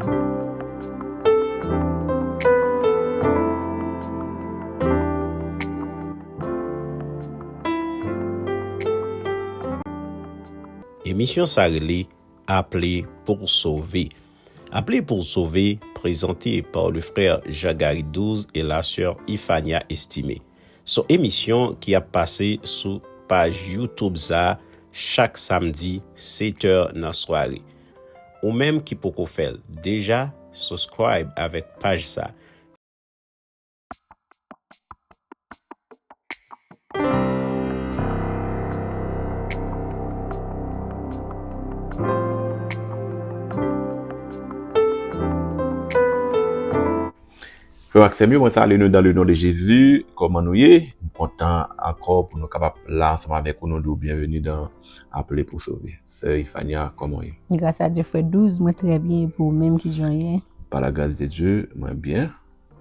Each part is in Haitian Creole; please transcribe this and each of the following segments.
Emisyon sa rele Aple pou w sove. Aple pou w sove prezante pa le frè Jean Garry 12 e la sè Ifania Estimé. Son emisyon ki ap pase sou paj YouTube sa chak samdi 7 è nan sware. Ou menm ki poko fèl deja suscribe avèk paj sa. Frè m ak sè m yo, mwen salye nou dan le non de Jezi. Kòman nou ye? M kontan ankò pou nou kapab la ansanm avèk ou. Nou di w byenveni dan Aple pou Sove. Sè ifania kòmanw ye. Gras a Dye frè Douze mwen trè byen epi ou menm kijanw ye. Par la gras de Dye mwen byen.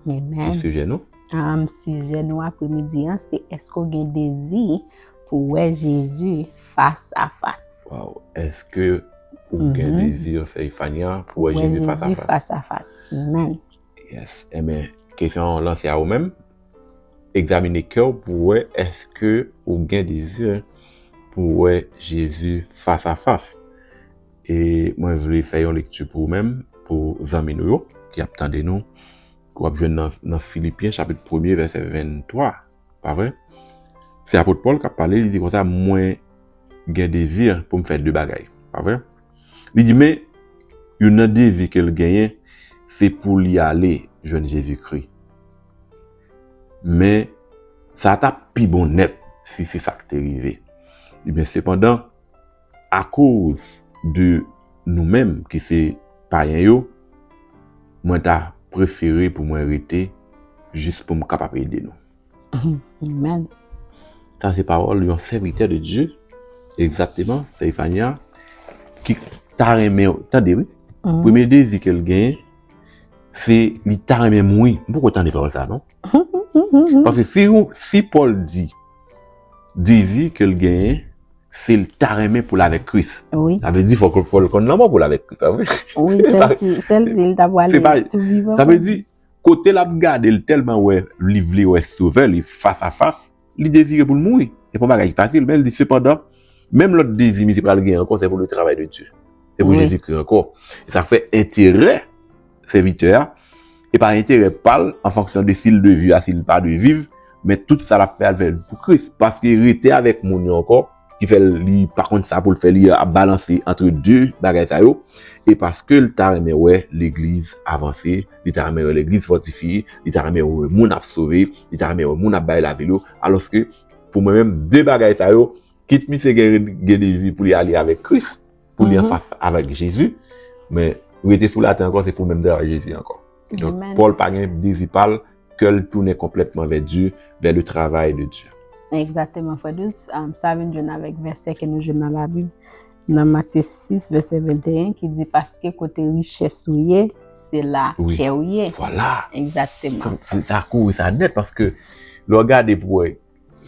Amen. Ki sijè nou? Am sijè nou apre midi an se eske ou gen dezi pou wè Jezi fas a fas. Waw eske ou gen dezi sè ifania pou wè Jezi fas a fas. Pou wè Jezi fas a fas. Amen. Yes, enben, kesyon an lanse a ou menm. Egzamine kè ou pou wè eske ou gen dezi pou wè Jezi fas a fas. E mwen vle fè yon lekti pou ou menm, pou zanmi nou yo ki ap tande nou. Ou ap jwenn nan Filipyen chapit premye vèsè 23, pa vre? Se apot Pòl k ap pale, li di konsa, mwen gen dezi pou m fè de bagay, pa vre? Li di men youn nan dezi ke l genyen se pou li ale jwenn Jezikri. Men sa ta pi bon nèt si se sa k te rive. Li di men sepandan akoz de nou menm ki se payen yo, mwen ta prefere pou mwen rete jis pou m kapab ede nou. Amen. Sa se pawòl yon sèvitè de Dye, egzakteman, sè Ifania, ki ta renmen ou tande wi. Premye dezi ke l gen, se li ta renmen mouri. M poko tande pawòl sa non. Paske si yon, si Pòl di, dezi ke l gen, se l ta renmen pou l avèk Kris. Wi. Sa vle di fòk l konn lanmò pou l avèk Kris, pa vre? Wi, sèl si, sèl si l ta pwale tou vivan pou Kris. Sa vle di, Kote l ap gade, l tèlman wè li vle wè Sovè li fas a fas, li devire pou l mouri. Se pa yon bagay ki fasil, men l di, Sepandan, menm lòt dezi misye pral gen ankò se pou le travay de Dye, se pou Jezikri ankò. E sa fè enterè sèvitè a, e pa enterè pa l an fonksyon de si l de viv a si l pa de viv, men tout sa l ap fè a l fè l pou Kris. Paske rete avèk moun yo ankò. ki fè li pa konn sa pou l fè li ap balanse antre 2 bagay sa yo e paske l ta renmen wè legliz avanse li ta renmen wè legliz fòtifye li ta renmen wè moun ap sove li ta renmen wè moun ap bay lavi l yo alòske pou mwen menm 2 bagay sa yo kit misye gen dezi pou li ale avèk kris pou li anfas avèk Jezi, men rete sou latè ankò se pou menm travay Jezi ankò. Donk, Pòl pa gen dezi pa l, kè l tounen konplètman vè Dye, vè le travay de Dye. Egzateman, Frè Dous. Sa vin jwenn avèk vèsè ke nou jwenn nan Labib, nan Matye 6, vèsè 21, ki di, Paske kote richès ou ye, se la kè ou ye. Vwala! Egzateman. Sa kore sa nèt, paske lè w gade pou wè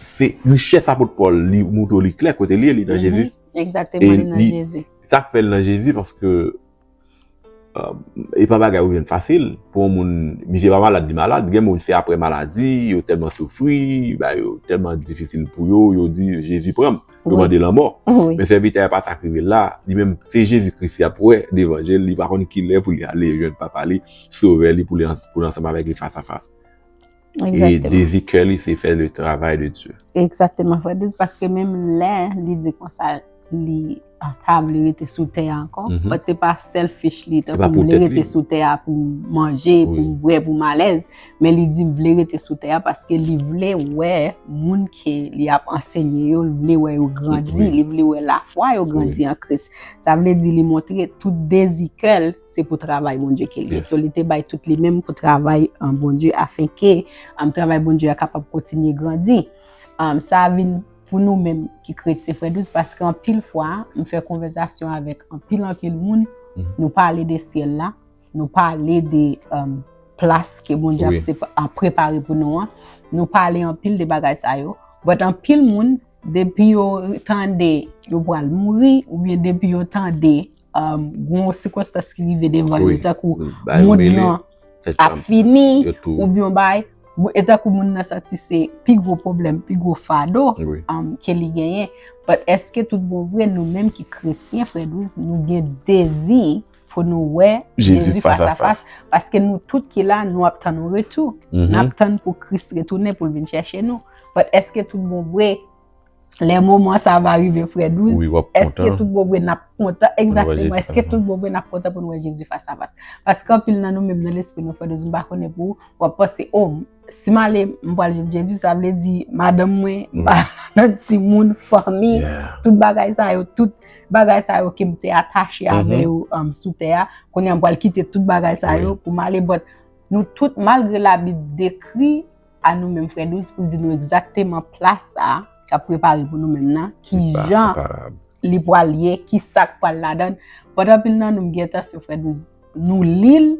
Se richès apot Pòl li moutre w li klè kote li ye, li nan Jezi. Egzateman, li nan Jezi. Sa k fè l nan Jezi paske e pa bagay ou jwenn fasil pou yon moun, misye pa malad li malad, gen moun se aprè maladi, yo tèlman soufri, bagay yo tèlman difisil pou yo, yo di Jezi pran m, yo mande lanmò. Men sèvitè a pa sa k rive l la, li menm se Jezi Kris l ap wè devan je l, li pa konn kilè pou li ale jwenn Papa li, Sovè li pou l ansanm avèk li fas a fas. E dezi kè li se fè le travay de Diyo. Eksakteman frè Dries, paske menm lè li di konsa li anta vle rete sou tè a ankon, bat te pa selfish li, te pa pou vle rete sou tè a pou manje, pou bwe, pou malèz, men li di vle rete sou tè a paske li vle wè moun ke li ap ansenye yo, li vle wè yo grandi, li vle wè lafwa yo grandi an Kris. Sa vle di li montre tout dezi kè l. se pou travay Bondye ke li ye. So li te bay tout li menm pou travay Bondye afen ke travay Bondye a kapab kontinye grandi. Sa vin pou nou menm ki kretyen frè douz paske anpil fwa nou fè konvèzasyon avèk anpil anpil moun nou pale de syèl la, nou pale de plas ke Bondye ap prepare pou nou an, nou pale anpil de bagay sa yo. But anpil moun depi yo tande yo pral mouri oubyen depi yo tande gwo sikonstans ki rive devan yo, ta kou moun nan ap fini, ou byon bay, e ta kou moun nan sati se pi gwo problem, pi gwo fado ke li genyen. But eske tout bon vre nou menm ki kretyen frè douz, nou gen dezi pou nou wè Jezi fas a fas, paske nou tout ki la nou ap tan nou retou, nou ap tan pou kris retounen pou vin chèche nou. But eske tout bon vre Le moman sa va rive frè 12. Wi wap kontan. Eske tout bon vre nap kontan. Exactement. Eske tout bon vre nap kontan pou nou wè Jezi fas a fas. Paske anpil nan nou menm nan lespri nou frè 12 m pa konnen pou ou wap panse oh si m ale m pral jwenn Jezi sa vle di madanm mwen m pa nan ti moun fanmi tout bagay sa yo tout bagay sa yo ke m te atache avè yo sou tè a kounye a m pral kite tout bagay sa yo pou m ale but nou tout malgre la bib dekri a nou menm frè Douce pou di nou egzakteman pla sa k ap prepare pou nou menm nan, ki jan li pral ye, ki sa k pral ladan. Pote anpil nan nou m gen entansyon frè Douce nou li l,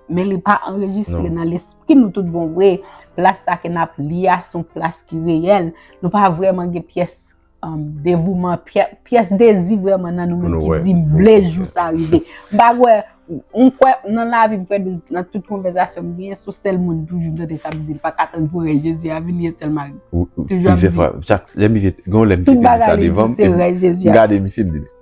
men li pa anrejistre nan lespri nou tout bon vre. Pla sa ke n ap li a se yon pla ki reyèl, nou pa vrèman gen pyès Devouman, pyès dezi vreman nan nou menm ki di m vle jou sa rive. M pa kwè, m kwè nan lavi m kwè nan tout konvèzasyon m gen, sou sèl moun toujou m tande k ap di m pa ka tann pou rèy Jezi a vini e sèl mari m. Toujou ap di. Plizyè fwa, lè misye, gen yon lè misye te di sa devan m, m gade misye m di men.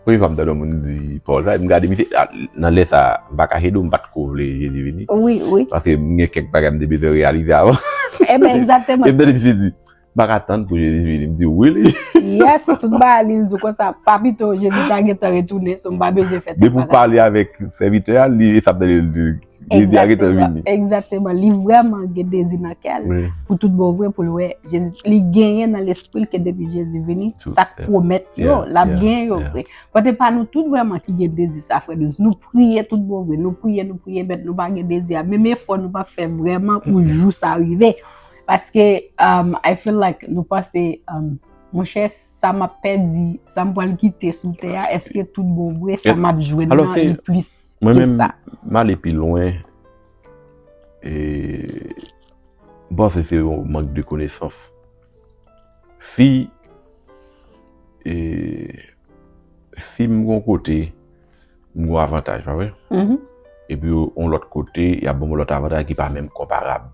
Premye fwa m tande yon moun di pawòl sa, m gade misye, nan lè sa, m pa kache di w m pa t ko vle Jezi vini. Wi, wi. Paske m gen kèk bagay m te bezwen reyalize avan. Eben, egzakteman. E m tande misye di. M pa ka tann pou Jezi vini. M di w wi li. Yes, tout bagay li, li di w konsa. Pa pito Jezi ta gentan retounen, so m pa bezwen fè tèt bagay. Depi w pale avèk sèvitè a, li sa ap tande l di Jezi a gentan vini. Egzakteman, egzakteman. Li vrèman gen dezi nan kè l pou tout bon vre pou l wè Jezi. Li genyen nan lespri l ke depi Jezi vini, sa k pwomèt yo, l ap genyen yo vre. Bòt e pa nou tout vrèman ki gen dezi sa, frè Dweuz. Nou priye tout bon vre, nou priye, nou priye, bèt nou pa gen dezi a. Menm efò nou pa fè vrèman pou jou sa rive. Paske um, I feel like nou panse um, Monchè, sa m ap pèdi, sa m pral kite sou tè a, eske tout bon vre, sa m ap jwenn nan li plis ke sa. Mwen men, m ale pi lwen, e, m panse se yon mank de konesans. Si, e, Film gon kote m gon avantaj pa vre? Mm-hmm. Epi on lòt kote y ap banm on lòt avantaj ki pa menm konparab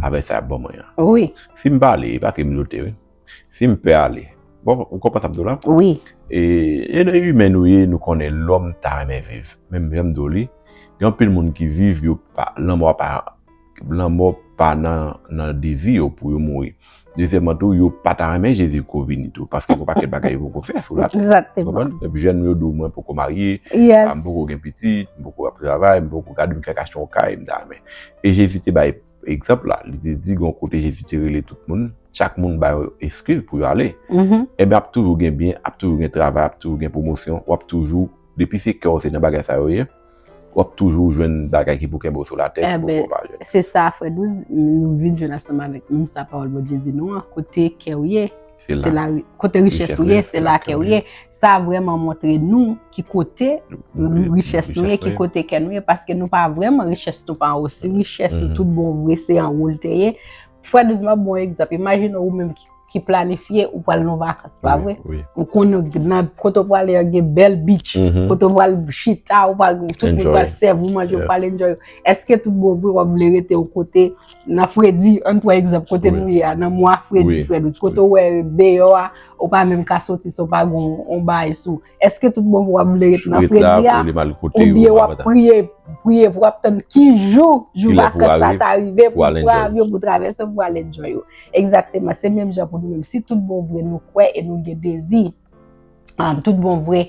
avèk sa y ap ban mwen an. Wi. Si m pa ale, e pa ke m lote wi. Si m pè ale, bon ou konprann sa m di w la? Wi. E e lè imen nou ye nou konnen lòm ta renmen viv. Menm jan m di w li, gen anpil moun ki viv yo pa lanmò pa Lanmò pa nan devi yo pou yo mouri. Dezyèman tou, yo pa ta renmen Jezi ko vini tou, paske gen yon pakèt bagay yo poko fè sou latè. Ou konprann? Epi jèn yo di w mwen poko marye, m poko gen pitit, m poko ap travay, m poko gade m fèk achte yon kay m ta renmen. E Jezi te bay egzanp la, li te di gen yon kote Jezi te rele tout moun, chak moun ba yo eskiz pou yo ale. Enben ap toujou gen byen, ap toujou gen travay, ap toujou gen pwomosyon, w ap toujou, depi se kè w se nan bagay sa yo ye. Wap toujou jwenn bagay ki pou kenbe w sou latè ki pou fè w pa jwenn. Enben, se sa frè Douze, nou vin jwenn ansanm avèk menm sa pawòl Bondye di nou an, kote kè w ye, se la, kote richès ou ye, se la kè w ye. Sa vrèman montre nou ki kote richès nou ye, ki kote kè nou ye, paske nou pa vrèman, richès nou pa anwo. Si richès nou tout bon vre se anwo l te ye. Frè Douze map bon egzanp, imajine ou menm ki planifye ou pral nan vakans, pa vre? Ou konnen ou gen nan kote ou pral e gen bèl beach, mm-hmm. kote ou pral chita, ou pral tout moun pral sèv ou manje, ou pral enjoy. Eske tout bon vre wap vle rete ou kote nan fredi, an pran egzanp kote nou ye a, nan mwa fredi, frè Douze, kote ou wè deyò a, ou pa menm ka soti si ou pa gon on bay sou. Eske tout bon pou wap vle ret nan fredi a? Ou byen wap priye, priye pou wap tann ki jou, jou vakans sa ta rive pou pran avyon pou travèse pou al enjoy ou. Ekzakteman, se menm jan pou nou menm. Si tout bon vre nou kwè e nou gen dezi, tout bon vre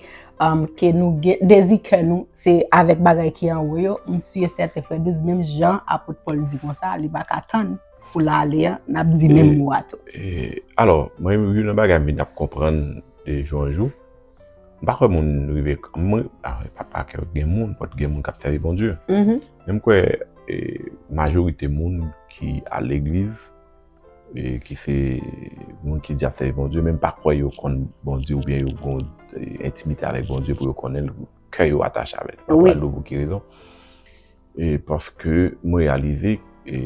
ke nou gen dezi kè nou, se avèk bagay ki anwo yo, m si e sèten frè Douz menm jan apot Pòl di konsa, li baka tann. Pou la ale a, n ap di menm mo a tou. Alò, mwen yon nan bagay m vin ap konprann de jou an jou, m pa kwè moun rive, mwen, a wè, pa pa kwè gen moun, pòt gen moun k ap sèvi Bondye. Men m kwè majorite moun ki al legliz, ki se moun ki di y ap sèvi Bondye, men m pa kwè yo konn Bondye oubyen yo gon entimite avèk Bondye pou yo konnen l, kè yo atache avè l. Mwen pa kwè l pou ki rezon. E paske m reyalize e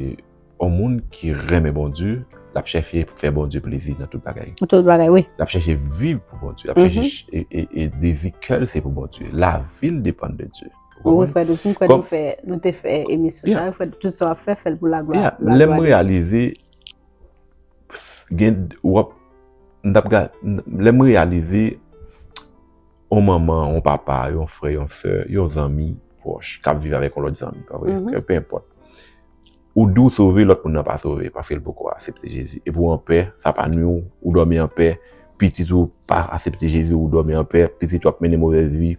yon moun ki renmen Bondye, l ap chèche fè Bondye plezi nan tout bagay. Nan tout bagay wi. L ap chèche viv pou Bondye. L ap chèche e dezi kè l se pou Bondye. Lavi l depann de Dye. Wi frè Doucet, m kwè nou fè, nou te fè emisyon sa yo frè Doucet. Tout sa w ap fè, fè l pou laglwa de Dye. Ya, lè m reyalize, gen, w ap, m t ap gad, lè m reyalize. yon manman, yon papa, yon frè, yon sè, yon zanmi pwòch k ap viv avèk yon lòt zanmi, pa vre? Kè pe enpòt. Ou di w sove, lòt moun nan pa sove paske l poko asepte Jezi. Epi w anpè, sa pa nwi w, ou dòmi anpè. Pitit ou pa asepte Jezi, ou dòmi anpè. Pitit ou ap mennen movèz vi,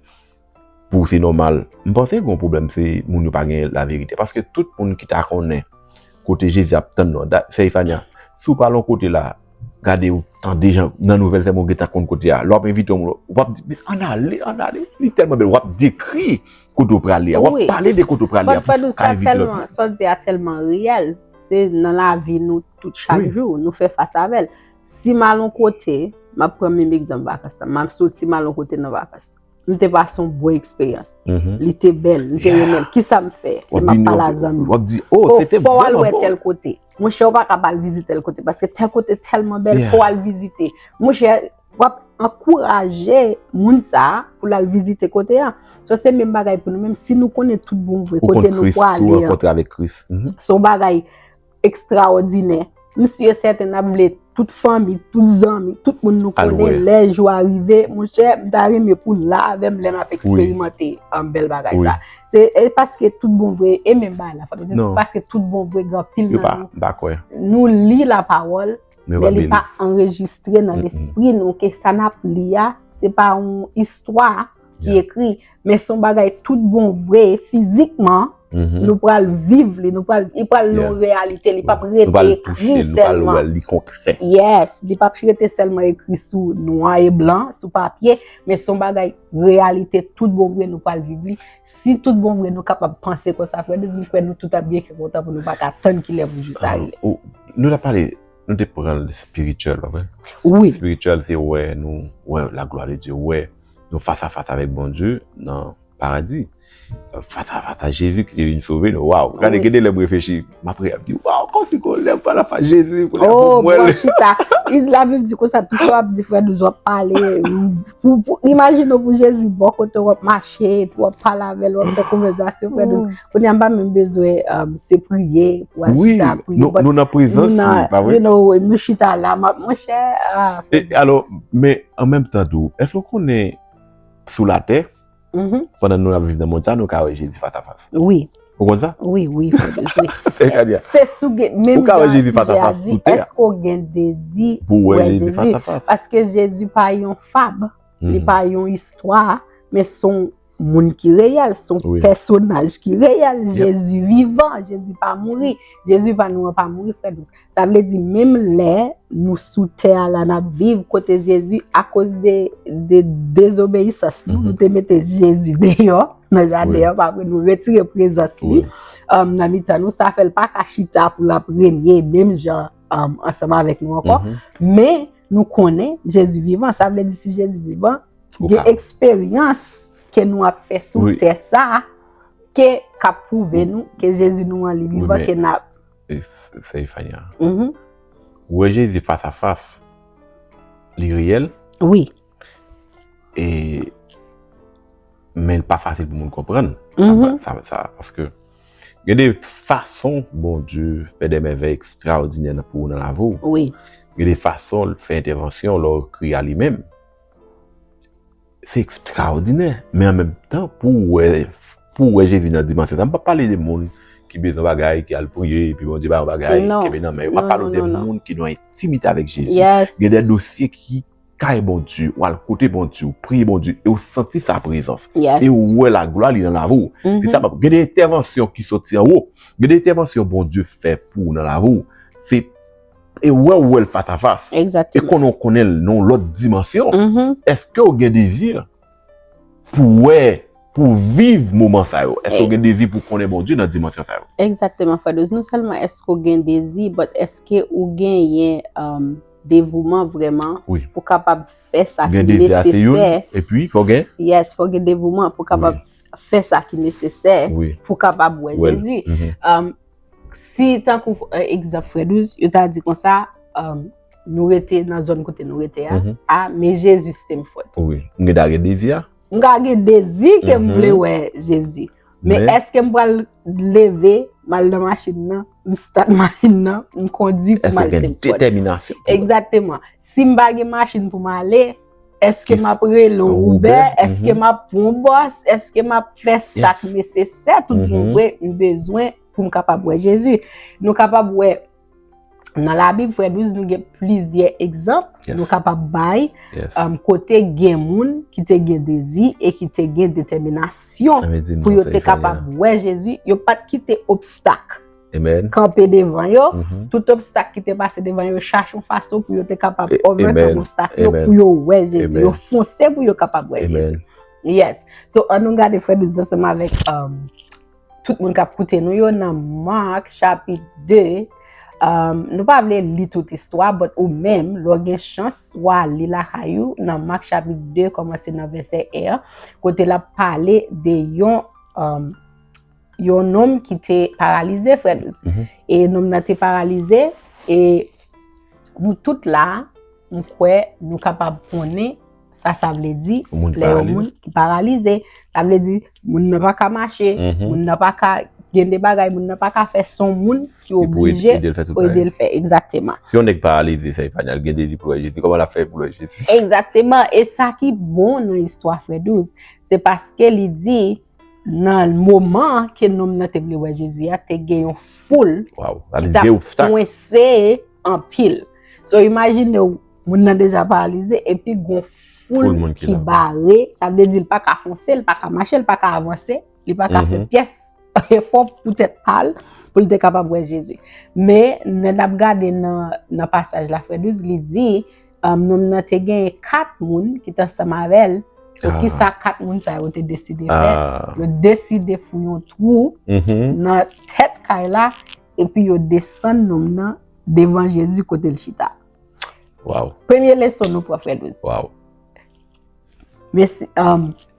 pou w se nòmal. M panse gen yon pwoblèm se moun yo pa gen laverite. Paske tout moun ki ta konnen kote jezi ap tann nou an sè ifania si w pa lon kote la gade ou tande jan nan nouvèl sèm ou gentan konn kote a lè w ap envite yon moun wap di men ann ale ann ale li tèlman bèl wap dekri kote w prale a wap pale de kote w prale a pou ka envite lòt moun. Bon fadou sa tèlman sa w di a tèlman reyèl se nan lavi nou tout chak jou nou fè fas avèl si m al yon kote m ap pran menm egzanp vakans la m ap soti m al yon kote nan vakans Li te pa son bon eksperyans. Mhm. Li te bel, li te remel. Ki sa m fe? Li ma pala zan mi. Wap di, oh, se te bel. Ou fwa wale we tel kote. Mwen che wap akaba al vizite tel kote. Paske tel kote telman bel, fwa wale vizite. Mwen che wap ankouraje moun sa pou lal vizite kote a. So se men bagay pou nou men. Si nou konen tout bon vwe, kote nou wale. Ou konen kris tou, ou konen kris. Son bagay. ekstraòdinè. M si e sèten n ap vle tout fanmi, tout zanmi, tout moun nou konnen lè jou a rive. Mon chè, m ta renmen pou l la avè m lè m ap eksperimante bèl bagay sa. Se e paske tout bon vre e menm bagay la. Se paske tout bon vre gen pil nan nou. Nou li la pawòl, men li pa anrejistre nan lespri nou ke sa n ap li a, se pa yon istwa. ki ekri, men son bagay tout bon vre, fizikman, mm-hmm. nou pral viv li, nou pral, li pral nou realite, li pap rete ekri selman. Nou pral wè li konkrè. Yes, li pap rete selman ekri sou nwa e blan, sou papye, men son bagay realite tout bon vre nou pral viv li. Si tout bon vre nou kapab panse kon sa, fwè de zi fwè nou tout ap byen ki kontan pou nou baka tann ki lè pou jou sa rele. Ah, nou la pale, nou te pran spiritual, wè? Oui. Spiritual, te wè nou, wè la gloire de Dieu, wè. Nou fas a fas avèk Bondye nan paradi. Fas a fas a Jezi ki te vin sove nou. Waw, gade gen de lè m reflechi, m ap priye, m ap di, waw, kòmsi ke lè m fas a fas Jezi, m konnen pou mwen. Ou chita, la Bib di konsa, tout sa w ap di frè nou, w ap pale, imajine w pou Jezi bò kote w, w ap mache, w ap pale avè l, w ap fè konvèzasyon frè nou. Kounye a m pa menm bezwen se priye pou al chita pou li. Wi, nou nan prezans li, pa vre? Nou chita la, mwen chè, ah frè. E alò, men. An menm tan tou, èske ou konnen sou latè, pandan nou ap viv nan mond sa, nou ka wè Jezi fas a fas? Wi. Ou konn sa? Wi, wi, frè Bruce, wi. Fè Kania. Se sou gen, menm jan sijè a di, èske ou ka wè Jezi fas a fas sou tè a? Èske ou gen dezi pou wè Jezi fas a fas? Paske Jezi pa yon fab, li pa yon istwa, men son Moun ki reyèl son pèsonaj ki reyèl. Jezi vivan, Jezi pa mouri. Jezi pa nou an pa mouri frè dous. Sa vle di menm lè nou sou tè a la nap viv kote Jezi akoz de dezobeyisans nou, nou te mete Jezi deyò nan jaden an, pa vre nou retire prezans li nan mitan nou, sa fèl pa ka chita pou lap renye menm jan ansanm avèk nou ankò. Men nou konnen Jezi vivan, sa vle di si Jezi vivan. Gen eksperyans ke nou ap fè sou tè sa, ke kap pwouve nou, ke Jezi nou an li vivan, ke nap. Sè Ifania, wè Jezi fas a fas, li reyèl? Wi. E, men pa fasil pou moun konprann, sa mè sa, paske, gen de fason Bondye fè de mèvèy ekstraòdinè nan pou ou nan lavi ou. Wi. Gen de fason l fè entèvansyon lò ou kri a li menm. Se ekstraòdinè, men an menm tan pou ou wè, pou ou wè Jezi nan dimansyon sa, m pa pale de moun ki bezwen bagay, ki al priye, epi Bondye ba yo bagay, ki kenbe nan men yo, m ap pale ou de moun ki nan entimite avèk Jezi, gen de dosye ki kay Bondye, ou al kote Bondye, ou priye Bondye, e ou santi sa prezans, e ou wè laglwa li nan lavi ou, se sa m ap, gen de entèvansyon ki soti anwo, gen de entèvansyon Bondye fè pou ou nan lavi ou, se. e wè ou wèl fas a fas e konnen ou konnen l nan yon lòt dimansyon eske ou gen dezi pou wè pou viv moman sa yo eske ou gen dezi pou konnen Bondye nan dimansyon sa yo Exactement frè Douze non sèlman eske ou gen dezi but eske ou gen yen euh, devouman vrèman pou kapab fè sa ki nesesè epi fò gen yes fò gen devouman pou kapab fè sa ki nesesè pou kapab wè Jezi euh, Si tankou egzanp frè Douz, yo ta di konsa, nou rete nan zòn kote nou rete a, a, men Jezi sitem fòt. Wi, m gen dwa gen dezi a. M ka gen dezi ke m vle wè Jezi. Men eske m pral leve, m al nan machin nan, m start machin nan, m kondi pou m al sitem fòt. Eske gen detèminasyon. Egzateman. Si m pa gen machin pou m ale. Eske m ap rele w Woube? Eske m ap pran w bòs? Eske m ap fè sa k nesesè tout bon vre m bezwen pou m kapab wè Jezi? Nou kapab wè nan Labib, frè Bruce, nou gen plizyè egzanp nou kapab bay kote gen moun ki te gen dezi e ki te gen detèminasyon pou yo te kapab wè Jezi, yo pa t kite obstak. kanpe devan yo, tout obstak ki te pase devan yo, yo chache yon fason pou yo te kapab overcome obstak yo, pou yo wè Jezi, yo fonse pou yo kapab wè Jezi. Yes. So, an nou gade frè nou zan seman avèk um, tout moun kap koute nou yo nan Mark chapit 2, um, nou pa vle li tout istwa, but ou menm, lò gen chans, wa li la kayou nan Mark chapit 2, komanse nan vese 1, kote la pale de yon um, yon nonm ki te paralize frè douz. Mhm. E nonm nan te paralize, e nou tout la, nou kwe, nou kapab pwone, sa sa vle di, le yon moun ki paralize. Sa vle di, moun nan pa ka mache, mhm. moun nan pa ka gen de bagay, moun nan pa ka fe son moun ki oblije, ou ide l fe, egzateman. Si yon nek paralize, se yon panyal, gen de li pou lè jezi, koman la fe pou lè jezi? Egzateman, e sa ki bon nou istwa frè douz, se paske li di, Nan moman an ke nonm nan te vle wè Jezi a, te gen yon foul ki ta kwense anpil. So imajine ou, moun nan deja paralize, epi gon foul moun ki bare, sa vle di l pa ka fonse, l pa ka mache, l pa ka avanse, li pa ka fè pyès efò pou tèt pa l, pou l te kapab wè Jezi. Men, lè n ap gade nan pasaj la, frè Dries li di, Nonm nan te genyen 4 moun ki te ansanm avè l. So ki sa 4 moun sa yo te deside fè? Yo deside fouye yon twou nan tèt kay la epi yo desann nonm nan devan Jezi kote l chita. Premye leson nou pran frè Louis.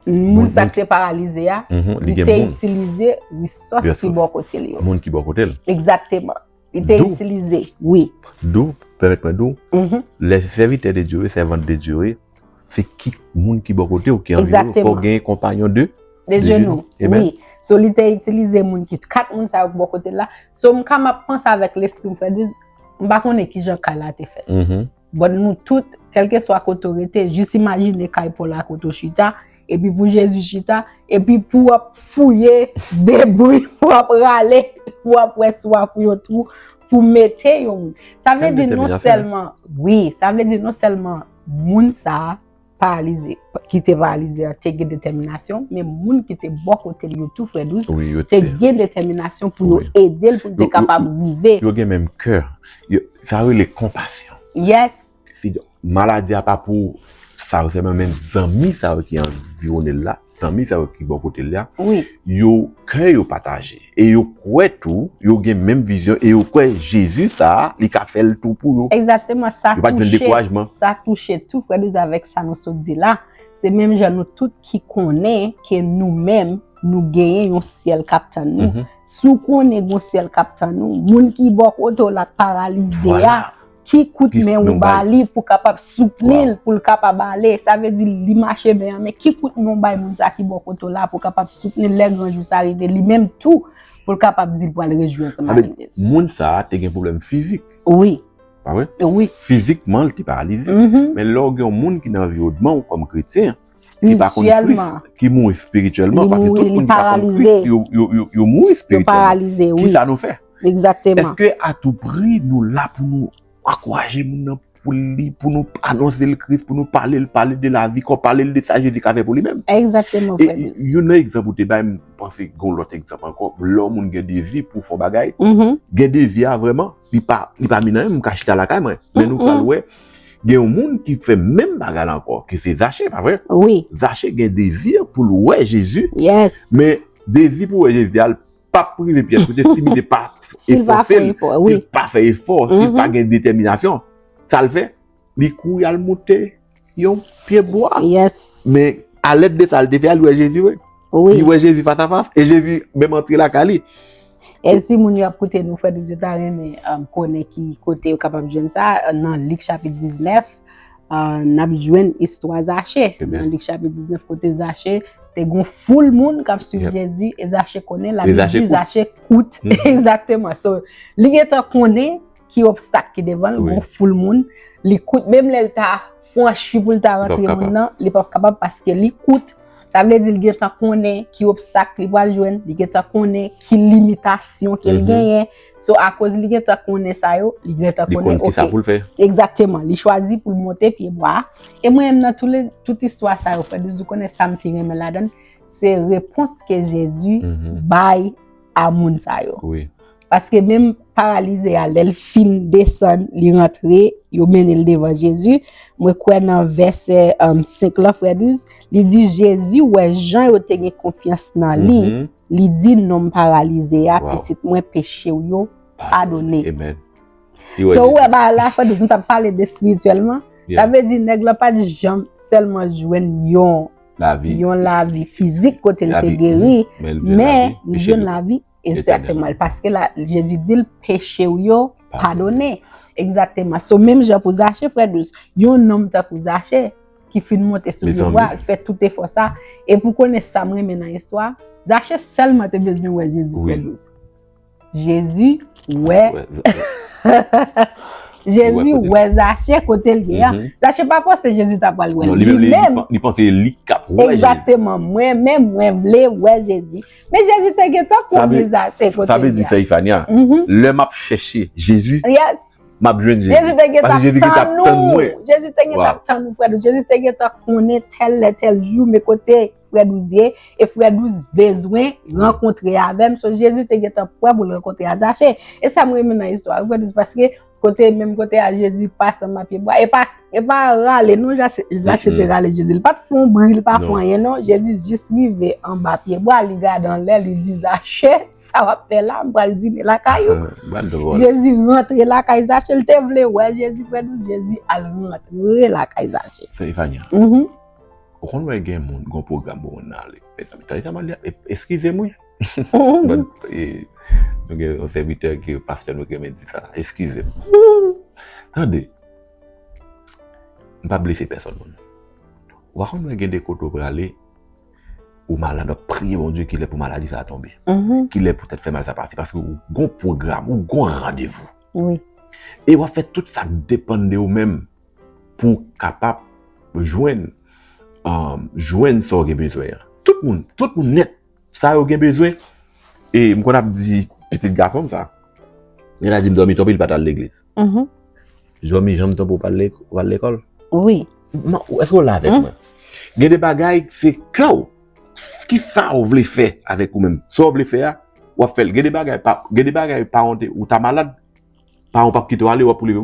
Moun sa ki te paralize a, li te itilize resous ki bò kote l yo. Moun ki bò kote l. Egzateman. Li te itilize, wi. Dou, pèmèt mwen dou, lè se sèvitè de Dye, sèvant de Dye wi, se ki moun ki bò kote ou, ki anvi ou, fò gen konpanyon de, de jenou, wi. So li te itilize moun ki, kat moun sa yo ki bò kote l la, so m ka m ap panse avèk lespri m, frè Drizz, m pa konnen ki jan kay la te fèt. Bon nou tout, kelke swa kote ou rete, jis imajine kay Pòl la kote ou chita, epi pou Jezi chita, epi pou w ap fouye debri, pou w ap rale, pou w ap wè si w ap fouye yon twou pou mete yon moun. Sa vle di non sèlman, wi, sa vle di non sèlman moun sa a, paralize, ki te paralize a te gen detèminasyon, men moun ki te bò kote li yo tou frè dous, te gen detèminasyon pou yo ede l pou l te kapab rive. Yo gen menm kè, sa rele konpasyon. Yes. Maladi a pa pou sa yo sèlman men zanmi sa yo ki anviwone l la. zanmi sa yo ki bò kote l la, yo kè yo pataje e yo kwè tou, yo gen menm vizyon e yo kwè Jezi sa a, li ka fè l tou pou yo. Egzakteman, sa touche, sa touche tou frè Douze avèk sa nou sot di la, se menm jan nou tout ki konnen ke nou menm nou genyen yon syèl k ap tann nou. Si w konnen gen yon syèl k ap tann ou, moun ki bò kote w la k paralize a, Ki kout men ou ba li pou kapab soutni l pou l kapab ale. Sa vle di li mache byen an, men ki kout men ou bay moun sa ki bò kote w la pou kapab soutni l lè gran jou sa rive li menm tou pou l kapab di l pral rejwi ansanm avèk Jezi. Sa vle di moun sa te gen pwoblèm fizik. Wi. Pa vre? Wi. Fizikman li te paralize. Men lè w gen yon moun ki nan anviwònman w kòm kretyen, Spirityèlman. Ki mouri spirityèlman. Li mouri, li paralize. Yo mouri spirityèlman. Yo paralize, oui. Ki sa nou fè? Exactement. Est-ce que a tout prix nou la pou nou akouraje moun nan pou li, pou nou anonse le Christ, pou nou pale le, pale de la vie, pou nou pale le de sa Jésus ka fè pou li mèm? Exactement, frère Luis. Et, yon nan exemple ou te bay, mwen panse gon lòt exemple ankò, lè yon moun gen dezi pou fon bagay, gen dezi a vreman, li pa, li pa minan yon moun ka chita lakay mwen. Men nou pral wè, Gen yon moun ki fè menm bagay la ankò, ki se Zache, pa vre? Wi. Zache gen dezi pou l wè Jezi. Yes. Men, dezi pou wè Jezi a, l pa p rive Pyè kote si li te pa efòse l, si l pa fè efò, si l pa gen detèminasyon. Sa l fè? Li kouri al monte yon pye bwa. Yes. Men, alèd de sa l te fè a, li wè Jezi vre. Wi. Li wè Jezi fasafas. E Jezi menm antre lakay li. E si moun yo ap koute nou frè nou yo ta renmen konnen ki kote yo kapab jwenn sa, nan Lik chapit 19, n ap jwenn istwa Zache. Nan Lik chapit 19 kote Zache te gen yon foul moun k ap suiv Jezi e Zache konnen, Labib di Zache kout. Egzakteman. So, li gentan konnen ki obstak ki devan l, gen yon foul moun, li kout menm lè l ta. Franchi poul ta rantre moun nan li pap kapab paske li kout sa vle di li gentan konnen ki obstak li pwal jwenn li gentan konnen ki limitasyon kel genyen so akoz li gentan konnen sa yo li gentan konnen ok li konn kisa poul fè egzateman li chwazi poul monte pye bwa e mwen menm nan tout istwa sa yo frè douz ou konnen sam pi renmen ladann se repons ke jezi bay a moun sa yo. Wi. Paske menm paralize a lèl fin desann li rantre yo menel devan Jezi, mwen kwè nan vèsè 5 lan frè Duz, li di Jezi wè jan yo te gen konfyans nan li, li di nonm paralize a pitit mwen pechew yo padone. Amen. So ou wè ba la frè Duz nou tap pale de espirityèlman, sa vle di nèg lan pat janm sèlman jwenn yon. yon lavi fizik kote li te geri, men li jwenn lavi esatemal, paske la Jezi di l peche ou yo padone, esatemal, sou menm jan pou zache frè dous, yon nonm ta kou zache, ki fin monte sou li wak, ki fè tout e fò sa, e pou konen sa mwen men nan istwa, zache selman te bezwen wè Jezi frè dous. Jezi wè Jezi wè Zache kote l ye a Zache pa panse Jezi ta pral wè li Li menm Li panse se li kap wè Jezi Egzakteman Mwen menm mwen vle wè Jezi Men Jezi te gentan konnen Zache kote l ye a Sa vle di sè Ifania Lè m ap chèche Jezi Yes M ap jwenn Jezi Jezi te gentan Jezi te gentan tann mwen Jezi te gentan tann ou frè Jezi te gentan konnen tèl lè tèl jou men kote frè douz ye, e frè douz bezwen rankontre avèm, so Jezi te gen tan pwè pou l rankontre a Zache. E sa m renmen nan istwa frè douz, paske kote menm kote a Jezi pase anba pye bwa, e pa e pa rale non Zache te rale Jezi, li pa t fon bri, li pa fon anyen non, Jezi jis rive anba pye bwa, li gade anlè, li di Zache, sa w ap fè la, m pral dine lakay ou. Jezi rantre lakay Zache, l te vle wè Jezi frè douz, Jezi al rantre lakay Zache. Frè Evania, Ou konn wè gen moun gon pwogram pou moun nan ale. Mezanmi tande sa map di a eskize mwen but nou gen yon sèvitè ke pastè nou ki renmen di sa eskize m. Tande m pap blese pèsòn moun ou pa konn wè gen de kote ou prale ou malad wap priye Bondye kilè pou maladi sa tonbe kilè pou tèt fè mal sa pase paske ou gon pwogram ou gon randevou e wap fè tout sak depann de ou menm pou w kapab jwenn jwenn sa w gen bezwen an. Tout moun, tout moun nèt, sa yo gen bezwen, e m konn ap di pitit gason m sa, lè l a di m Zanmi tanpri li pa t al legliz. Zanmi janm tanpri w pa al lekòl? Wi. Èske w la avèk mwen? Gen de bagay se kè w, ki sa w vle fè avèk ou menm? Sa w vle fè a, w ap fè l. Gen de bagay, gen de bagay paran w te, ou ta malad, Paran w pap kite w ale, w ap leve.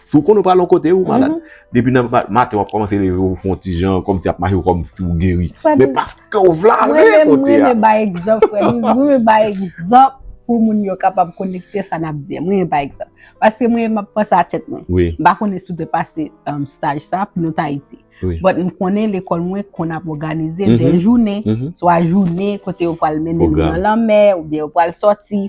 Si w konnen w pral yon kote, ou malad. Depi nan maten w ap kòmanse leve w fè yon ti jan, kòmsi y ap mache w kòmsi w geri. Men paske w vle ale kote a. Mwen menm, mwen renmen bay egzanp, frè Louis. Mwen renmen bay egzanp pou moun yo kapab konekte sa n ap di a. Mwen renmen bay egzanp. Paske mwen menm m ap panse a tèt mwen. M pa konnen si w te pase staj sa a pou nou te Ayiti. But m konnen lekòl mwen konn ap òganize de jounen, swa jounen kote yo pral mennen nou nan lanmè oubyen yo pral soti.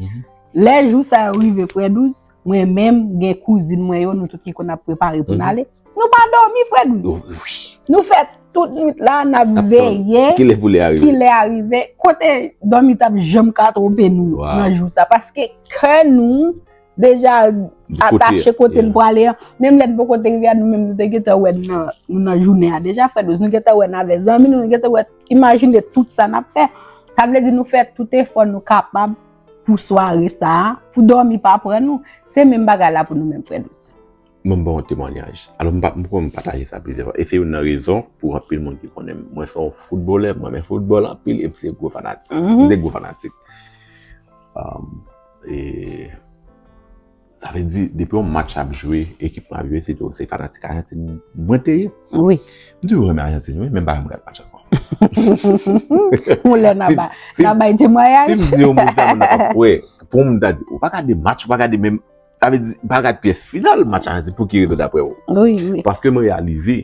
Lè jou sa yo rive frè douz, mwen menm gen kouzin mwen yo nou tout ki konn ap prepare pou n ale, nou pa dòmi frè douz. Nou fè tout nwit la n ap veye kilè pou lè a rive. Ki lè a rive, kote dòmi t ap janm ka twonpe nou nan jou sa paske kè nou deja atache kote n prale an. Menm lè n poko te rive a nou menm nou te gentan wè nou nan jounen a deja frè douz. Nou gentan wè n avè zanmi nou, nou gentan wè, imajine tout sa n ap fè. Sa vle di nou fè tout efò nou kapab. pou sware sa a, pou dòmi pa pran nou. Se menm bagay la pou nou menm frè nou sè. Mwen ba w yon temwanyaj. Alò m pa, m kwè m pataje sa plizyè fwa. E se youn nan rezon pou anpil moun ki konnen m. Mwen se yon foutbolè, m renmen foutbòl anpil e m se gwo fanatik. M se gwo fanatik. E. Sa vle di depi yon match ap jwe ekip map jwe se tou se fanatik ajantin mwen te ye. Wi. M toujou renmen ajantin wi menm bagay m gad match ankò. Yon lè na ba na bay temwayaj. Si m di yon moun sa moun nan pap kwè. Pou moun ta di ou pa gade match ou pa gade menm sa vle di pa gad pyès final match ajantin pou ki rezon daprè ou. Wi wi. Paske m reyalize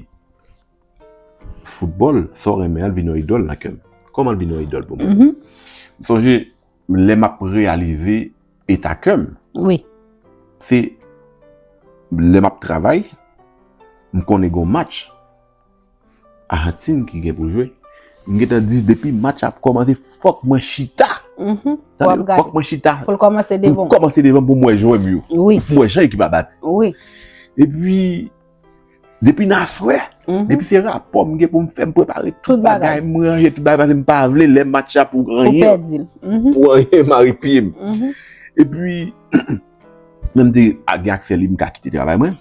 foutbòl sa w renmen an vin yon idòl nan kè m. Kòman l vin yon idòl pou mwen. M sonje. Lè m ap reyalize eta kè m. Wi. Se lè m ap travay, m konnen gen yon match Ajantin ki gen pou jwe. M gen tan di depi match la ap kòmanse fòk mwen chita. Pou ap gade. Fòk mwen chita. Pou l kòmanse devan w. Pou l kòmanse devan m pou m wè jwè m yo. Wi. Pou m wè jan ekip la bati. Wi. Epi. Depi nan aswè, depi se rapò m gen pou m fè, m prepare tout bagay, m ranje tout bagay, paske m pa vle lè match la pou anyen, pou anyen mare pye m. E pi, lè m te gen aksè lib, m ka kite travay mwen,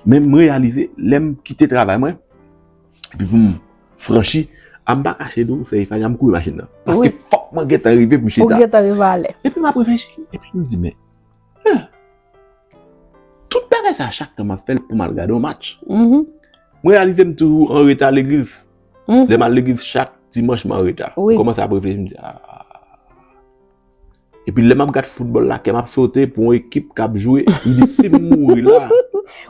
men m reyalize, lè m kite travay mwen, epi pou m franchi, a m pa kache di w, sèye fany, a m kouri machin nan. Paske fòk mwen gen tan rive pou m chita. Fòk mwen gen tan rive ale. Epi m ap reflechi, epi m di men. Huh! Tout bagay sa a chak tan m ap fè l pou m al gade yon match. Mwen reyalize m toujou an reta legliz. Lè m al legliz chak dimanch m an reta. M kòmanse ap reflechi m di aah. Epi lè m ap gad foutbòl la kè m ap sote pou yon ekip k ap jwe. M di si m mouri la.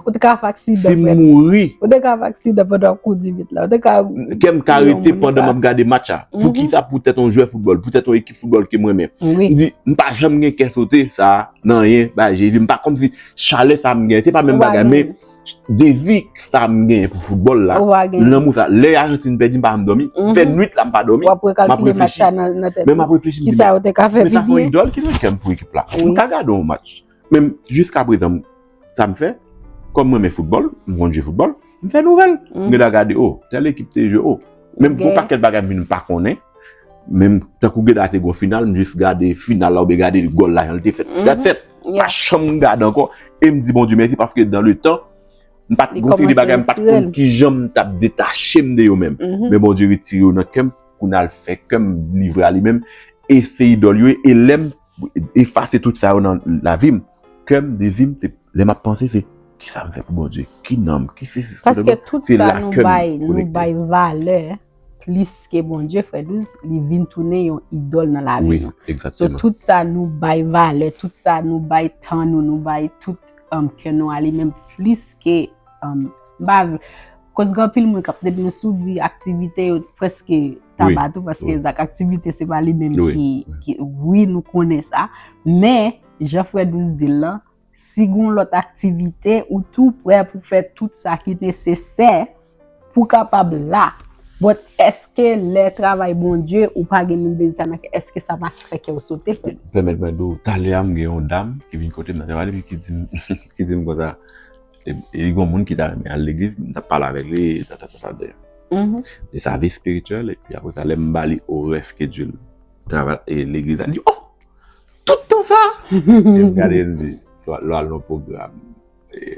Ou te ka fè aksidan. Si m mouri. Ou te ka fè aksidan pandan w ap kouri di bit la. Kè m ka rete pandan m ap gade match la. Poukisa poutèt yon jwè foutbòl, poutèt yon ekip. football ke mwen men. M di, m pa janm gen kè sote sa nan anyen bay Jezi. M pa konm si chalè sa m gen, se pa menm bagay men dezi sa m gen pou football la, lanmou sa. Lè Argentine pèdi m pa janm domi, m fè nwit la m pa domi, m ap reflechi. Men m ap reflechi m di men, men sa son idol ki nan kè m pou ekip la. M ka gade yon match. Men jiska prezan sa m fè, kòm mwen renmen foutbòl, m konn jwe foutbòl, m fè nouvèl. M gen dwa gade o, tèl ekip te jwe o. Men m gen yon pakèt bagay m vin pa konnen. Men m, tankou gen dwa te gen yon final, m jis gade final la oubyen gade gòl la jan l te fèt. That's it! M pa janm gade ankò. E m di Bondye mèsi paske dan le tan, m pa t gon seri de bagay m pa t konn ki jan m t ap detache m de yo menm. Men Bondye retire yo nan kè m pou n al fè kè m livre a li menm. E se idòl yo ye. E lè m. Efase tout sa yo nan lavi m. Kè m, dezi m, se lè m ap panse se kisa m fè pou Bondye, ki nan m, ki sesi, se lè m, se la kè m konekte. Paske tout sa nou bay valè plis ke Bondye frè Douze, li vin tounen yon idòl nan lavi nou. Wi, egzakteman. So tout sa nou bay valè, tout sa nou bay tan nou, nou bay tout kè nou a li menm plis ke, m pa vle, koz gen anpil moun kap, depi yo sou di aktivite yo preske. Taba tou paske zak aktivite se pa li menm ki wi nou konnen sa men jan frè dous di l lan si gon lòt aktivite ou tou prè pou fè tout sa ki nesesè pou kapab la bòt eske lè travay bondye ou pa gen menm dezi sa nan kè eske sa pa fè kè ou sote frè dous pèmèt mwen di w talè a m gen yon dam ki vin kote m nan travay li ki di m konsa E gon moun ki ta renmen al legliz, m tap pale avèk li, ta ta ta ta ta. E sa vi spirituel, e pi apre sa lè m ba li orè skedjil travay e legliz la, li di oh! Tout tan sa! E m gade l m di, lwa l nan pwogram,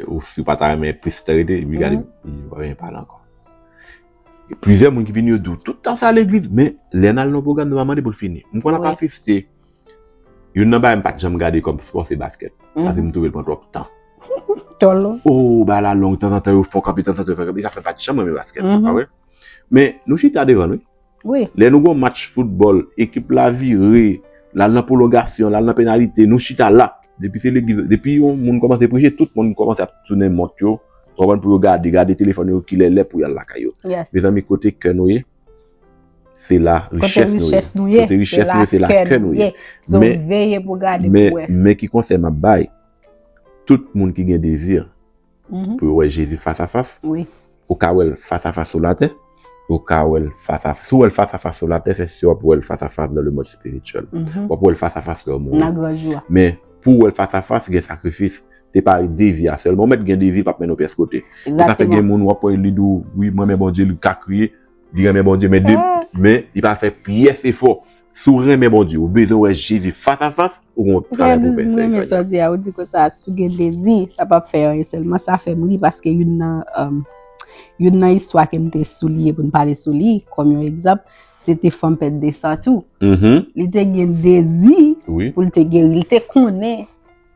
ou si w pa ta renmen plis tan rete, li gade m, li di pa vin pale ankò. Plizyè moun ki vini yo di w, tout tan sa legliz, men lè n al nan pwogram nou pa mande pou l fini. M kwè l ap asiste. Youn nan bagay m pat janm gade kòm spò se baskèt. Paske m twouve l pran twòp tan. Twò long. O, bagay la long. Tanzantan yo fè w kanpe, tanzantan yo fè w kanpe. E sa fè m pat janm renmen baskèt, se pa vre? Men, nou chita devan l, wi. Wi. Lè nou gen yon match foutbòl, ekip la vire, l al nan pwolongasyon, l al nan penalite, nou chita la. Depi se legliz, depi yon moun kòmanse preche, tout moun kòmanse ap tounen mont yo, w konprann, pou yo gade, gade telefòn yo kilè lè pou y al lakay yo. Yes. Mezanmi, kote kè nou ye? Se la richès nou ye. Kote richès nou ye, se la kè nou ye. So veye pou gade pou wè. Men ki konsèy map bay, tout moun ki gen dezi pou yo wè Jezi fas a fas, ou ka wèl fas a fas sou latè, ou ka wèl fas a fas, si ou wèl fas a fas sou latè, se si wap wèl fas a fas nan le mond spirityèl. Wap wèl fas a fas lè ou mouri. Nan gran jou a. Men pou wèl fas a fas, gen sakrifis. Se pa devi a selman. Ou met gen devi pap mennen ou pyes kote. Se sa fe gen moun wap we li di w wi m renmen Bondye li ka kriye li renmen Bondye men de men li pa fe pyes efo. Si w renmen Bondye ou bezwen we Jezi fas a fas ou gen yon travay pou w fe. Frè Douze m renmen sa w di a. Ou di konsa si w gen dezi sa pap fe anyen selman sa fe m ri paske youn nan youn nan istwa ke m te souliye pou n pale sou li kom yon egzanp se te fanm pèd de san tou. Li te gen dezi pou l te geri. Li te konnen.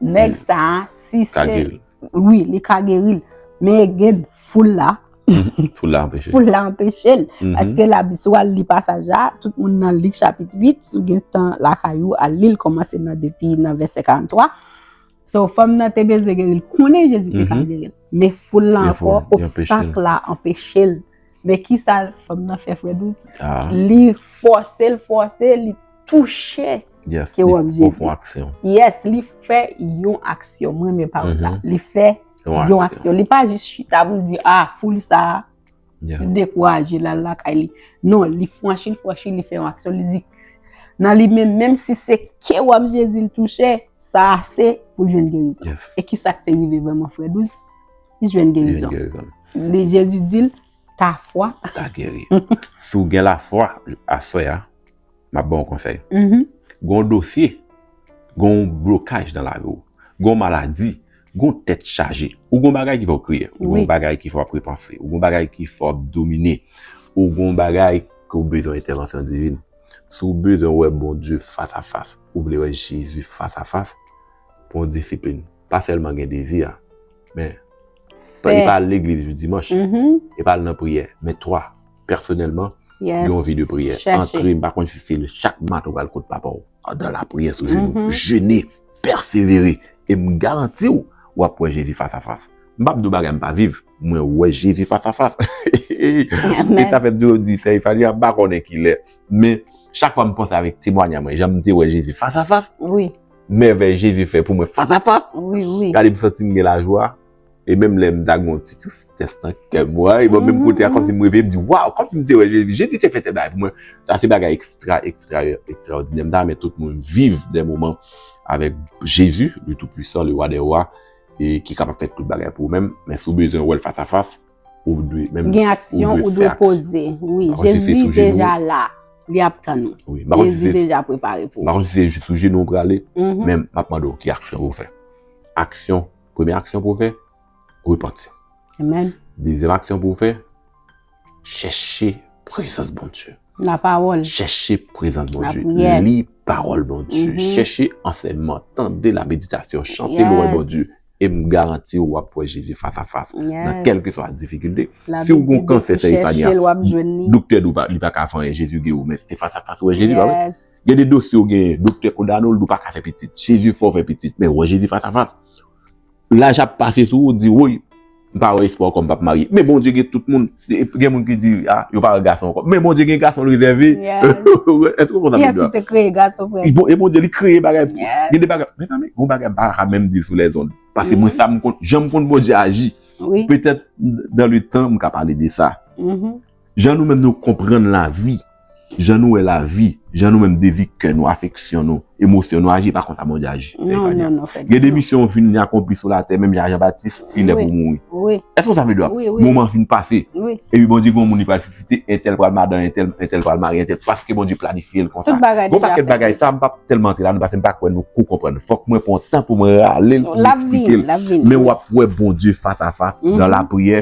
Neg sa si se. Ka geri. Wi li ka geri. Men gen foul la. Foul la anpeche. Foul la anpeche. Aske la sou al li pasaj la. Tout moun nan lik chapit 8. Sou gen tan la kayou al li. Li komanse nan depi nan vese 43. So fom nan te bezwe geri. Konen Jezi te ka geri. Men foul la anpeche. Obstak la anpeche. Men kisa fanm nan fè frè Douce? Li fòse, li fòse, li touche ke wòm Jezi. Yes, li fè yon aksyon. Yes, li fè yon aksyon. Mwen men pawòl la. Li fè yon aksyon. Li pa jis chita pou li di, ah, foul sa, li dekouraje, li al lakay li. Non, li fwanchi, li fwanchi, li fè yon aksyon. Li di, nan li men, menm si se ke wòm Jezi li touche, sa ase pou jwenn gerizon. E kisa ki te rive vreman frè Douce? Li jwenn gerizon. Li Jezi di l, ta fwa. Ta geri. Si w gen la fwa aswè a, m ap ban w konsèy. Mm-hmm. Gon dosye, gon blokaj nan lavi w, gon maladi, gon tèt chaje. Ou gon bagay ki fè w kriye. Ou gon bagay ki fè w ap repanse. Ou gon bagay ki fè w ap domine. Ou gon bagay ke w bezwen entèvansyon divin. Si w bezwen wè Bondye fas a fas, ou vle wè Jezi fas a fas, pran w disiplin. pa sèlman gen dezi a, men e pa al legliz jou dimanch, e pa al nan priyè, men twa, pèsonèlman, gen yon vi de priyè. Antre, m pa konn si se chak maten ou pral kot papa w, andan lapriyè sou jenou, jene, pèsevere, e m garanti w, w ap wè Jezi fas a fas. M pa p di w bagay m pa viv, mwen wè Jezi fas a fas. E sa fè m toujou di sè Ifanie a, m pa konnen kilè, men chak fwa m panse avèk temwanyay mwen, jan m te wè Jezi fas a fas, mèvèy Jezi fè pou mwen fas a fas, gade m santi m gen lajwa, e menm lè m ta gen yon ti tristès nan kè m, e menm m kote a kòm si m reve, m di waw, kòm si m te wè Jezi, Jezi te fè tèl bagay pou mwen, sa se bagay ekstra, ekstra, ekstraòdinè, m ta renmen tout moun viv dè moman avèk Jezi, le tout puissant, le roi des rois, e ki kapab fè tout bagay pou ou menm, men si w bezwen wè l fas a fas. Ou dwe menm gen aksyon ou dwe poze. Wi, Jezi deja la. Li ap tan nou. Jezi deja prepare pou. Bakon si se jis sou jenou ou prale, men m ap mande ou ki aksyon pou ou fè. Aksyon, premye aksyon pou ou fè, repanti. Amen. Dezyèm aksyon pou ou fè, chèche prezans Bondye. La pawòl. Chèche prezans Bondye. La priyè. Li pawòl Bondye. Chèche ansèyman, tande la meditasyon, chante lwen Bondye. E m garanti w wap wè Jezi fas a fas nan kèlkeswa difikilte. Si w gon kansè sè Ifania, doktè di w li pa ka fè anyen, Jezi geri w men se fas a fas ou wè Jezi pa vre? Gen de dosye w genyen, doktè kondane w li di w pa ka fè pitit, chiriji fè w fè pitit men wè Jezi fas a fas. Laj ap pase sou ou, di woy! M pa wè espwa ankò m pap marye. Men Bondye gen tout moun. Gen moun ki di a yo pa wè gason ankò. Men Bondye gen gason l rezève. Èske ou konn sa m vle di la? Kiyès ki te kreye gason frè m? E Bondye li kreye bagay pou. Gen de bagay. Mezanmi gen yon bagay m pa ka menm di l sou lèzond. Paske mwen sa m konn jan m konn Bondye aji. Petèt dan le tan m ka pale de sa. Jan nou menm nou konprann lavi, jan nou wè lavi, jan nou menm dezi kè nou, afeksyon nou, emosyon nou aji, e pa konsa Bondye aji. Gen de misyon ou fin akonpli sou latè, menm jan a Jan Batis, li lè pou mouri. Èske nou sa vle di a? Moman fin pase. E pi Bondye gen yon moun li pral sisite, entèl pral madan entèl, entèl pral mari entèl, paske Bondye planifye l konsa. Gon pakèt bagay sa m pap tèlman antre ladan paske m pa kwè nou ko konprann. Fòk mwen pran tan pou m rale l pou m esplike l. Men w ap wè Bondye fas a fas nan lapriyè.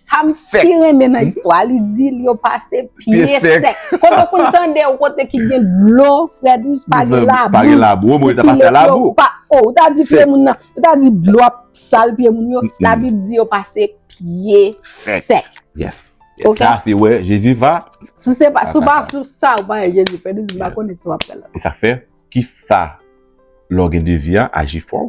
Sa m pi renmen nan istwa li di li yo pase pye sèk. Kote pou n tande ou kote ki gen dlo frè dous pa gen labou. Pa gen labou ou mwen ta pase labou. Ou ta di pye moun nan. Ou ta di dlo ap sal pye moun yo. La bib di yo pase pye sèk. Yes. Ok. Sa se wè Jezi va. Sou se pa sou pa sou sa ou pa wè Jezi frè dous m pa konnen sou wap pale. Sa fè ki sa lò gen dezi a aji fò.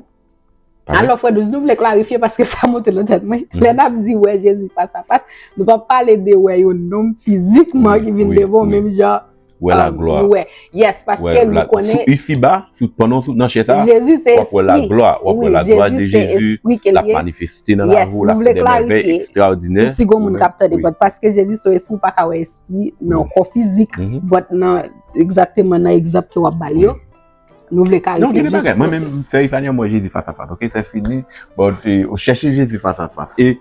Alò frè dous, nou vle klarifye paske sa monte nan tèt mwen. Lè n ap di wè Jezi fas a fas, nou pa pale de wè yon nonm fizikman ki vin devan w menm jan. Wè laglwa. Wè. Yes, paske nou konnen. Sou isiba, pandan w sou nan chè sa, wap wè laglwa. Wap wè laglwa de Jezi, la manifeste nan la vou, la fè de mèvè ekstraòdinè. Yes, nou vle klarifye. Pou si gon moun kap tande, but paske Jezi se yon espri, ou pa ka wè espri nan kò fizik. But nan, egzateman nan egzanp ke wap bay yo. Nou vle kare fè jistis posib. Mwen menm fè Ifania mwen Jezi fas a fas. Ok se fini. Bon, chèche Jezi fas a fas. E,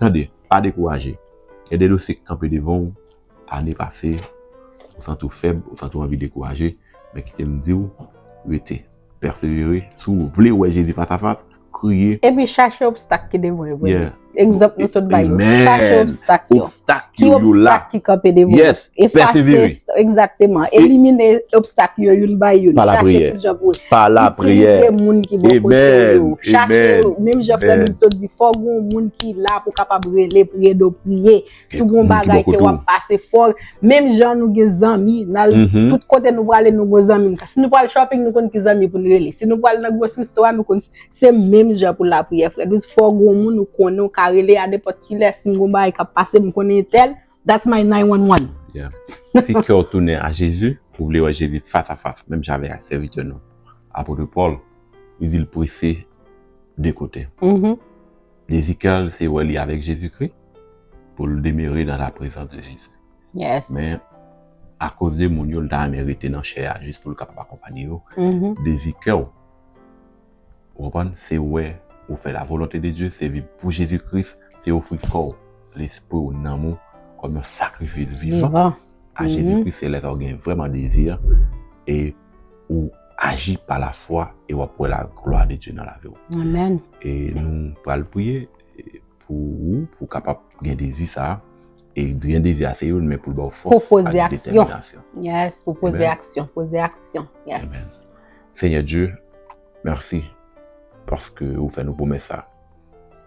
tande, pa dekouraje. Gen de dosye ki kanpe devan ou, ane pase, ou santi ou fèb, ou santi ou anvi dekouraje, men kite m di ou, rete, pèsevere, si ou vle wè Jezi fas a fas, kriye. Epi chache obstak ki devan yo vre. Ekzanp nou sot bay yo. Chache obstak yo. Ki obstak ki kanpe devan yo. E fase. Ekzakteman. Elimine obstak yo youn bay youn. Pa la priye. Pa la priye. Itilize moun ki bon kote yo. Chache yo. Menm jan frè nou sot di. Fòk yon moun ki la pou kapab rele priye do priye. Si gon bagay ke wap pase fòk, menm jan nou gen zanmi, nan mhm. tout kote nou prale nou gon zanmi. Si nou prale shopping, nou kon ki zanmi pou nou rele. Si nou prale nan gros restoran, nou kon se menm jan pou la priye frè. Dous fòk gon moun nou kon nou ka rele a depot ki lè si gon bagay kap pase m konen tel, that's my 911. Yeah. Si kè ou tounen a Jezi, ou vle wè Jezi fas a fas, menm jan avèk sèvitè nou. Apotre Paul, li zil prese de kote. Mm -hmm. Dezi kè l se wè li avèk Jezi kri. pou l demere nan laprezans de Jezi. Yes. Men, akoz de moun yo, l ta renmen rete nan chè a jis pou l kapab akonpanye yo. Mhm. Dezi kè w, ou konprann, se wè ou fè lavolonte de Dye, se viv pou Jezi Kris, se ofri kò w, lespri w, nanm ou kòm yon sakrifis vivan Vivan. a Jezi Mhm. Kris, se lè sa w gen vrèman dezi a, e ou aji pa lafwa e w ap wè laglwa de Dye nan lavi w. Amen. E nou pral priye. Pou ou, pou ou kapab gen dezi sa a, e gen dezi a se youn, men pou l ba ou fòs ak detèminasyon. Pou poze aksyon. Yes, pou poze aksyon. Poze aksyon. Yes. Senyè Dye, mèsi paske ou fè nou pwomès sa.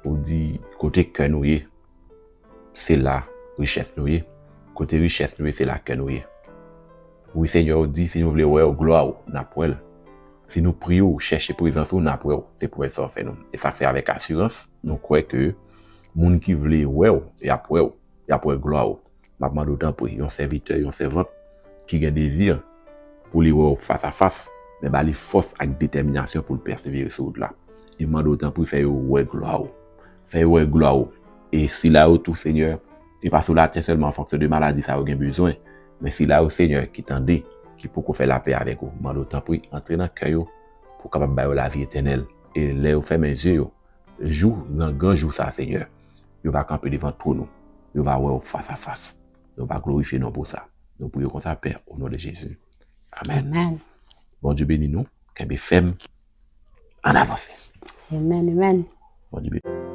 Ou di kote kè nou ye, se la richès nou ye. Kote richès nou ye, se la kè nou ye. Wi Senyè, ou di si nou vle wè ou, glwa ou, n ap wè l. Si nou priye ou, chèche prezans ou, n ap wè ou. Se pwomès sa ou fè nou. E sa k fè avèk asirans. Nou kwè ke moun ki vle wè w, y ap wè w, y ap wè glwa w. M ap mande w tanpri, yon sèvitè, yon sèvant ki gen dezi pou li wè w fasafas, men ba li fòs ak detèminasyon pou l pèsevere sou wout la. E m mande w tanpri fè yo wè glwa w. Fè yo wè glwa w. E sila yo tou, Senyè, e pa sou latè sèlman an fonksyon de maladi sa yo gen bezwen, men sila yo, Senyè, ki tande, ki poko fè lapè avèk ou, m mande w tanpri antre nan kè yo pou w kapab ba yo lavi etènèl. E lè yo fèmen je yo, jou nan gran jou sa Senyè, yo va kanpe devan twòn ou, yo va wè ou fas a fas, yo va glorifye non pou sa. Nou priye w konsa Pè, o non de Jezi. Amen. Bondye beni nou. Kenbe fèm. Ann avanse. Amen, amen. Bondye beni.